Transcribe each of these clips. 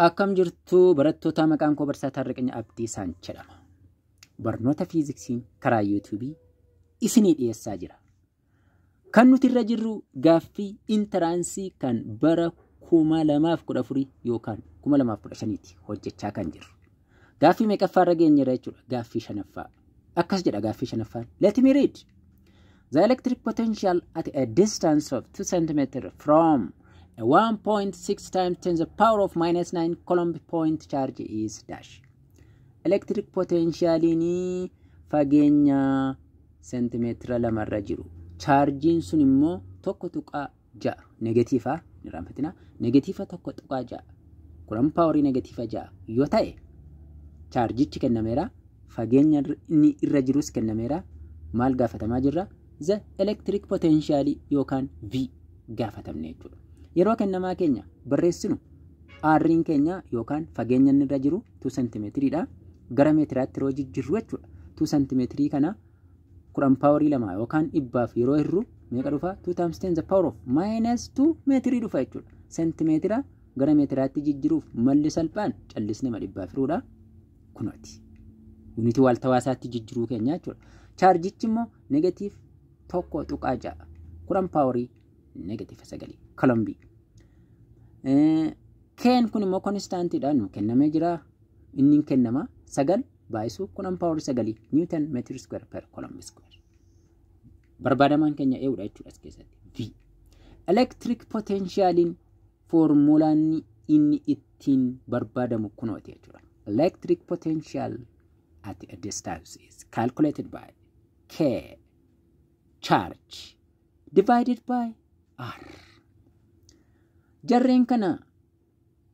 Akkam jirtu barattoota maqaan koo barsiisaa Taarriqanya Abdiisaan jedhama. Barnoota fiiziksiin karaa yuutuubii isinii dhiyeessaa jira. Kan nuti irra jirru gaaffii intaraansii kan bara 2014 yookaan 2015 ti hojjechaa kan jirru. Gaaffii meeqaffaa irra geenyera jechuudha. Gaaffii shanaffaa. Akkas jedha gaaffii shanaffaan. Let me read. The electric potential at a distance of 2 cm from a 1.6 times 10 the power of minus 9 coulomb point charge is dash. Electric potentialiin fageenya seentimeetira lamarra jiru. Chaarjiin sun immoo tokko tuqaa ja'a negatiifa hin irraanfatina negatiifa tokko tuqaa ja'a kuran paawarii negatiifa ja'a yoo ta'e chaarjichi kennameera fageenya irra- inni irra jirus kennameera maal gaafatamaa jirra the electric potential yookaan v gaafatamne jechuudha yeroo kennamaa keenya barreessinu aarriin keenya yookaan fageenya inni irra jiru 2 sentimeetiriidha gara meetiraatti yeroo jijjirru jechuudha 2 sentimeetirii kana kudhan paawarii lama yookaan dhibbaaf yeroo hirru meeqa dhufa 2 times 10 the power of minus 2 meetirii dhufa jechuudha seentimeetira gara meetiraatti jijjiruuf malli salphaan callisne ma dhibbaaf hiruudha kunooti yuunitii waaltawaa isaatti jijjiruu keenya jechuudha chaarjichi immoo negatiif tokko tuqaa ja'a kudhan paawarii negatiifa sagalii kolombii keen kun immoo konistaantiidha nu kennamee jira inni hin kennama sagal baay'isu 10 paawar 9 niwutan meetir iskuweer per kolom iskuweer. Barbaadamaan keenya eewudha jechuudha as keessatti. V. Elektiriik potenshaaliin foormulaan inni ittiin barbaadamu kunooti jechuudha. Elektiriik potenshaal at a distance is calculated by K charge divided by R. Jarreen kana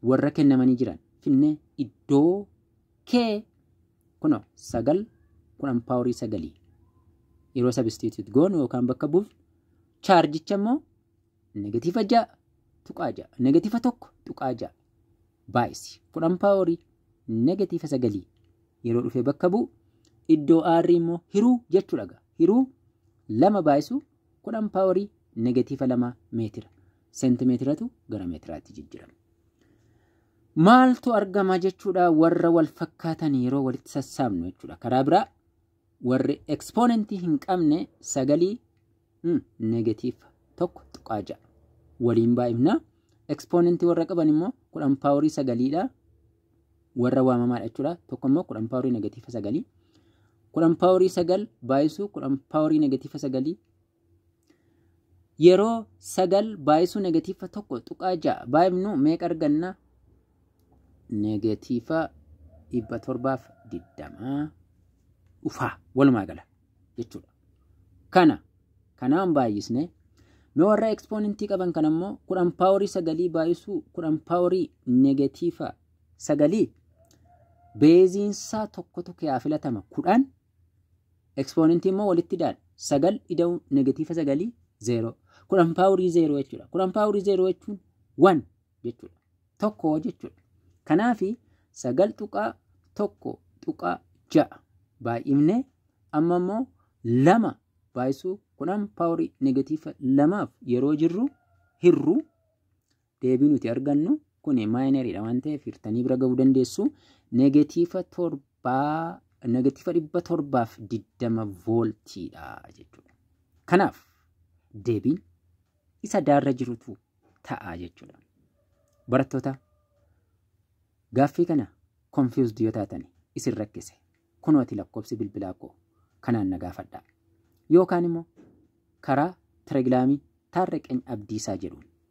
warra kennamanii jiran finnee iddoo kee kuno sagal kudhan paaworii sagalii yeroo sabistiituut goonu yookaan bakka buufnu chaarjicha immoo negatiiva ja'a tuqaa ja'a negatiiva tokko tuqaa ja'a baay'isi kudhan paaworii negatiiva sagalii yeroo dhufee bakka bu'u iddoo aarrii immoo hiruu jechuudha gaa hiruu lama baay'isu kudhan paaworii negatiiva lama meetira seentimeetiratu gara meetiraatti jijjirama. Maaltu argama jechuudha warra wal fakkaatan yeroo walitti sassaabnu jechuudha. Karaa biraa warri ekspoonentii hin qabne sagalii negatiif tokko tuqaa ja'a. Waliin baay'ifna. Ekspoonentii warra qaban immoo kudhan paaworii sagaliidha. Warra waamamaadha jechuudha. Tokko immoo kudhan paaworii negatiifa sagalii. Kudhan paaworii sagal baay'isuu kudhan paaworii negatiifa sagalii Yeroo sagal baay'isuu negatiifa tokko tuqaa ja'a baay'ifnu meeqa arganna? Negatiifa dhibba torbaaf digdamaa dhufaa walumaa gala jechuudha. Kana kanaan baay'isne mee warra ekspoonentii qaban kan ammoo kudhan paaworii sagalii baay'isuu kudhan paaworii negatiifa sagalii beeziinsaa tokkotu kee haa filatama kudhan Ekspoonentii immoo walitti ida'an. Sagal ida'uun negatiifa sagalii zeeroo. Kudhan paawurii zeeroo jechuudha. Kudhan paawurii zeeroo jechuun wan jechuudha. Tokko jechuudha. Kanaafi sagal tuqaa tokko tuqaa ja'a baay'ifne amma immoo lama baay'isuu kudhan paawurii negatiifa lamaaf yeroo jirru hirru deebii nuti argannu kun maayinariidha waan ta'eef hirtanii bira ga'uu dandeessu negatiifa torbaa negatiifa dhibba torbaaf digdama vooltiidha jechuudha. Kanaaf deebiin isa daarra jirutu ta'a jechuudha. Barattoota gaaffii kana confused yoo taatan isin rakkise kunooti lakkoofsi bilbilaa koo kanaan na gaafadhaa. Yookaan immoo karaa telegiraamii taarriqeen abdiisaa jedhuun